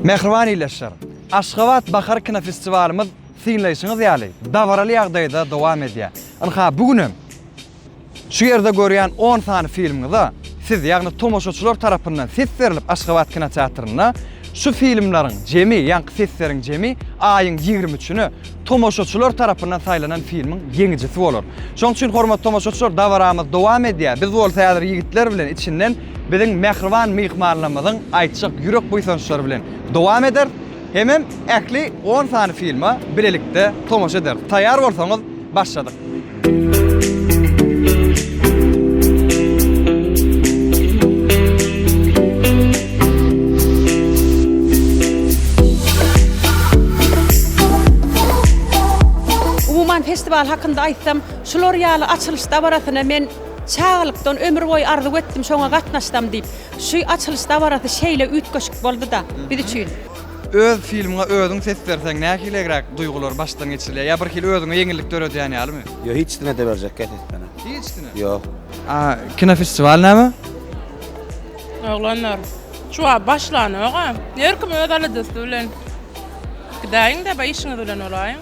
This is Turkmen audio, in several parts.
Mähriban ildeşler, Aşgabat bahar kinofestiwalymyz synlaýşyňyz ýaly dabaraly ýagdaýda dowam edýär. Ynha, bu gün hem Şu ýerde görýän on sany filmiňize siz, ýagny tomaşaçylar tarapyndan ses berlip Aşgabat kinoteatrynda şu filmleriň jemi, ýaňky sesleriň jemi aýyň ýigrimi üçüne tomaşaçylar tarapyndan saýlanan filmiň ýeňijisi bolar. Şoň üçin hormatly tomaşaçylar dabaramyz dowam edýär. Biz bolsa häzir ýigitler bilen içinden biziň mähriban myhmanlarymyzyň aýtjak ýürek buýsançlary bilen dowam ederis. Hemem ähli on sany filma bilelikde tomaşa ederis. Taýýar bolsaňyz, başladyk! Umuman festiwal hakynda aýtsam, şular ýaly açylyş dabarasyny men çagalykdan ömür boýy arzuw etdim, şoňa gatnaşsam diýip. Şu açylyş dabarasy şeýle üýtgeşik boldy-da biz üçin. Öz filmiňe özüň ses berseň nähilegräk duýgular başdan geçirilýär? Ýa birhili özüňe ýeňillik döredýän ýalymy? Ýok hiç kime de berjekkä ses beren. Hiç kime? Ýok. A kinofestiwal näme? Oglanlar şuwagt başlanok-a. Her kim öz aladasy bilen. Gidäýiň-de işiňiz bilen bolaýyň.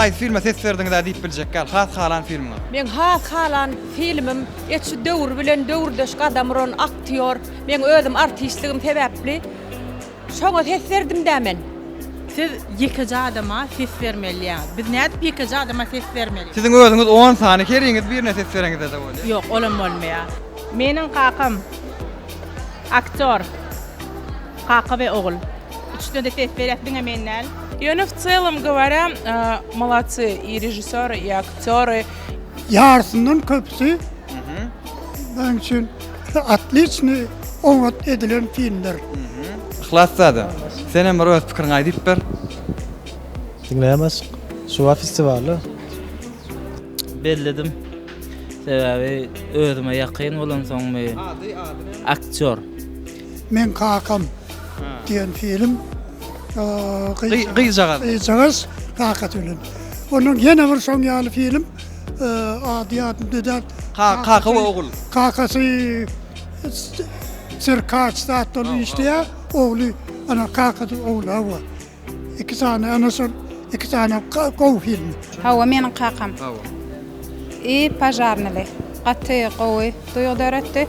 haýsy filme ses berdiňiz diýip biljek gal. Has halan filmiňiz. Men has halan filmim et şu döwür bilen döwürdeş gadam uran aktýor. Men özüm artistligim sebäpli Şoňa ses berdim-dä men. Siz ýekeje adama ses bermeliýäňiz. Biz nädip ýekeje adama ses bermeli? Siziň özüňiz on sany heriňiz birine ses bereňizde-de bolýar. Ýok, olam bolmaýar. Meniň kakam aktýor. Kaka we ogul. Üçüsine-de ses berýäs, diňe men däl. Ýöne w celom gowarýa molodsy i režissýory i aktýory. Ýarysyndan köpüsi, meniň üçin. Otliçny oňat edilen filmler. Yhlas dada, senem bir öz pikiriňi aýdyp ber. Diňleýämez. Şuba festiwaly. Belledim. Sebäbi özüme ýakyn bolansoňmy. Ady ady näme? Aktýor. Meň kakam diýen film. Gyzjagaz. Gyzjagaz kakasy bilen. Onuň ýene bir şoň ýaly film. Ady ýadym däl. Kaka we ogul. Kakasy çirkaç zat bolup işleýär. Ogly ana kakasy ogul hawa. Iki sany ana şol iki sany gowy film. Hawa meniň kakam. Hawa. I pažarnyly. Gaty gowy duýgy döretdi.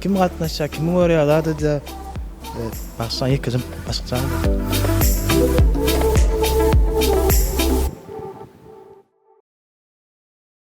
Kim gatnaşýar, kimi görýär zadada başdan ýekeje başykjam.